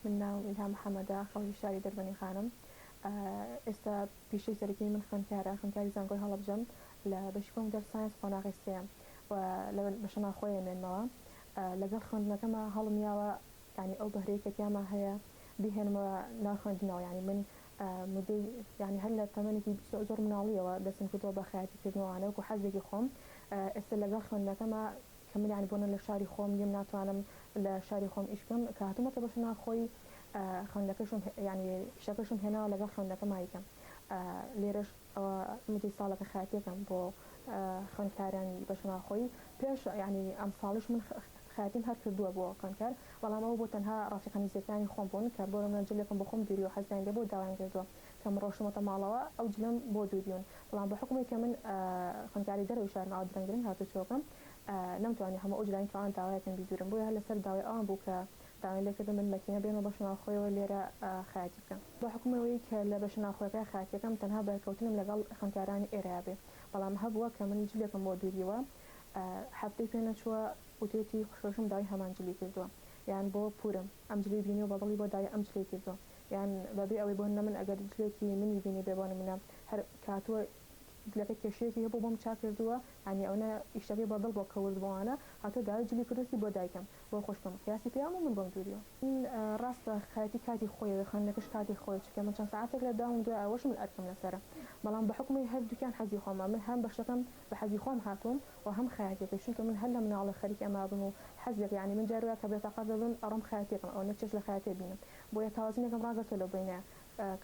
من ناوم ئیلهام محەمەدە خەڵکی شاری دەربەنی خانم ئێستا پیشەی سەرەکیی من خوێندکارە خوێندکاری زانکۆی هەڵەبجەم لە بەشی کۆمپیوتەر ساینس قۆناغی سێیەم و لە بەشە ناوخۆیە مێنمەوە لەگەڵ خوێندنەکەما هەڵم یاوە یانی ئەو بەهرەی کە تیاما هەیە بیهێنمەوە ناو خوێندنەوە یانی من مدەی یانی هەر لە تەمەنێکی زۆر مناڵیەوە دەستم کردوە بە خەیاتی کردن و ئەوانە وەکو حەزێکی خۆم ئێستا لەگەڵ خوێندنەکەما کە من یانی بۆنە لە شاری خۆم نیم ناتوانم لە شاری خۆم ئیش بکەم کە هاتوومەتە بەشە ناوخۆی خوێندەکەشم یانی ئیشەکەشم هێناوە لەگەڵ خوێندەکەمایکەم لێرەش ئەوە مدەی ساڵە کە خەیاتیەکەم بۆ خوێندکارانی بەشە ناوخۆی پێش یانی ئەمساڵیش من خەیاتیم هەر کردووە بۆ خوێندکار بەڵام ئەوە بۆ تەنها ڕەفیقە نزیەکانی خۆم بوون کە بۆ نمونە جلێکم بۆ خۆم دوریوە حەزیان لێبوو داوایان کردووە کە من ڕۆشتمەتە ماڵەوە ئەو جلەم بۆ دوریون بەڵام بە حکومی کە من خوێندکاری دەرەوەی شارم ئەو درەنگ درەنگ هاتوچۆکەم نەمتوانی هەموو ئەو جلانی کە ئەوان داوایەکەن بیدورم بۆیە هەر لەسەر داوای ئەوان بوو کە داوایان لێکردم من مەکینە بێنم و بەشە ناوخۆیەوە لێرە خەیاتی بکەم. بە حوکمی ئەوەی کە لە بەشە ناوخۆیەکە خەیاتی ئەکەم تەنها بەرکەوتنم لەگەڵ خوێندکارانی ئێرەیا بێ، بەڵام هەبووە کە من جلێکم بۆ دووریوە هەفتەی پێ نەچووە و تێتی خوشکەکەشم داوای هەمان جلی کردووە یان بۆ پوورم ئەم جلی بینیوە بە دڵی بۆ داوای ئەم جلەی کردووە یان بە بێ ئەوەی بۆ نمن ئەگەر جلێکی منی بینیبێ بۆ نمونە هەر کاتووە جلەکە کێشەیەکی هەبوو بۆم چاک کردووە یانی ئەونە ئیشەکەی بە دڵ بۆ کە ورد بۆوانە هاتووە داوای جلی کردووەتی بۆ دایکم بۆ خۆش بم قیاسی پێیام و من بۆم دووریەوە. ڕاستە خایەتی کاتی خۆیەوێ خوێندنەکەش کاتی خۆی چونکە من چەند سەعاتێک لە داوم دوای ئەوەش من ئەرکم لەسەرە بەڵام بە حوکمی هەردووکیان حەزی خۆمە من هەم بەشەکەم بە حەزی خۆم هاتووم و هەم خەیاتیەکەی چونکە من هەر لە مناڵی خەریکی ئەمە بم و حەزێک یانی من جار وایە کە بێتاقەت دەبم ئەڕۆم خەیاتیەکەم ئەوە نەک چێژ لە خەیاتێ بینم بۆیە تاوەزینێکم ڕاگرتووە لەو بەینە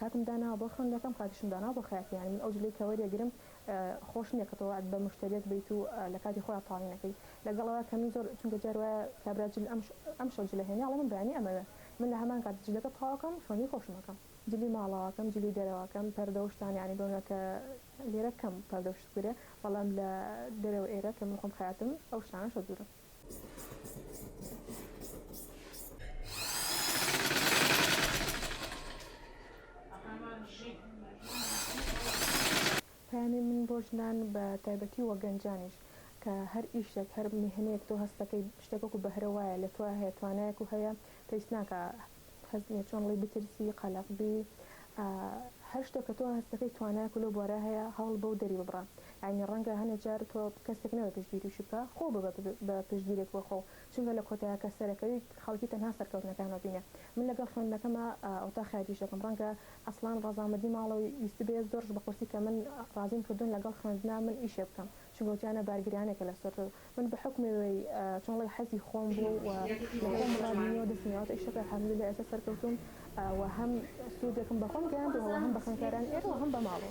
کاتم داناوە بۆ خوێندنەکەم کاتیشم داناوە بۆ خەیاتی یانی من ئەو جلەی کە وەریەگرم خۆش نیە کە تۆ وەعد بە موشتەریەک بەیت و لە کاتی خۆیا تاڵی نەکەی لەگەڵ ئەوە کە من زۆر چونکە جار وایە کابرا جل ئەمشەو جلە هێنی ئەڵێ من بەیانی ئەمەوێ من لە هەمان کات جلەکە تەواو ئەکەم خوێندنی خۆشم ئەکەم جلی ماڵەوە ئەکەم جلی دەرەوە ئەکەم پەردە و شتان یانی بۆ نمونە کە لێرە کەم پەردە و شت بگرێ بەڵام لە دەرەوە ئێرە کە من خۆم خەیاتم ئەو شتانەشە دوورم. پەیامی من بۆ ژنان بە تایبەتی وە گەنجانیش کە هەر ئیشێک هەر میهنەیەک تۆ هەستەکەی شتێک وەکو بەهرە وایە لە تۆیا هەیە توانایەک و هەیە پێویست ناکا هەست نیە چۆن ڵی بترسی قەلەق بی ئا هەر شتە کە تۆ هەستەکەی توانایەک و لەو بوارە هەیە هەوڵ بەو دەری ببڕە یانی ڕەنگە هەنێ جار تۆ کەسێک نەبێ پشتگیری و شیبکە خۆو ببە بە پشتگیرێک بۆ خۆو چونکە لە کۆتایە کە سەرەکەویت خەڵکی تەنها سەرکەوتنەکان وەبینێ من لەگەڵ خوێندنەکەما ئا ئەوتاخ یاریش دەکەم ڕەنگە ئەسڵان ڕەزامەدی ماڵەوەی ویستبێ زۆرش بە قورسی کە من ڕازیم کردوون لەگەڵ خوێندنا من ئیشێ بکەم چنگۆکیانە بارگرانێکە لەسەر تۆ من بەحوکمی ئەوەی چۆن ڵێی حەزی خۆم بوو و لەخۆم ڕابینیەوە دەستم هێناوەتە ئیشەکە الحمدللە ئێستا سەرکەوتووم و هەم سوودێکم بەخۆم گەیاندووە و هەم بە خوێندکارانی ئێرە و هەم بە ماڵەوە.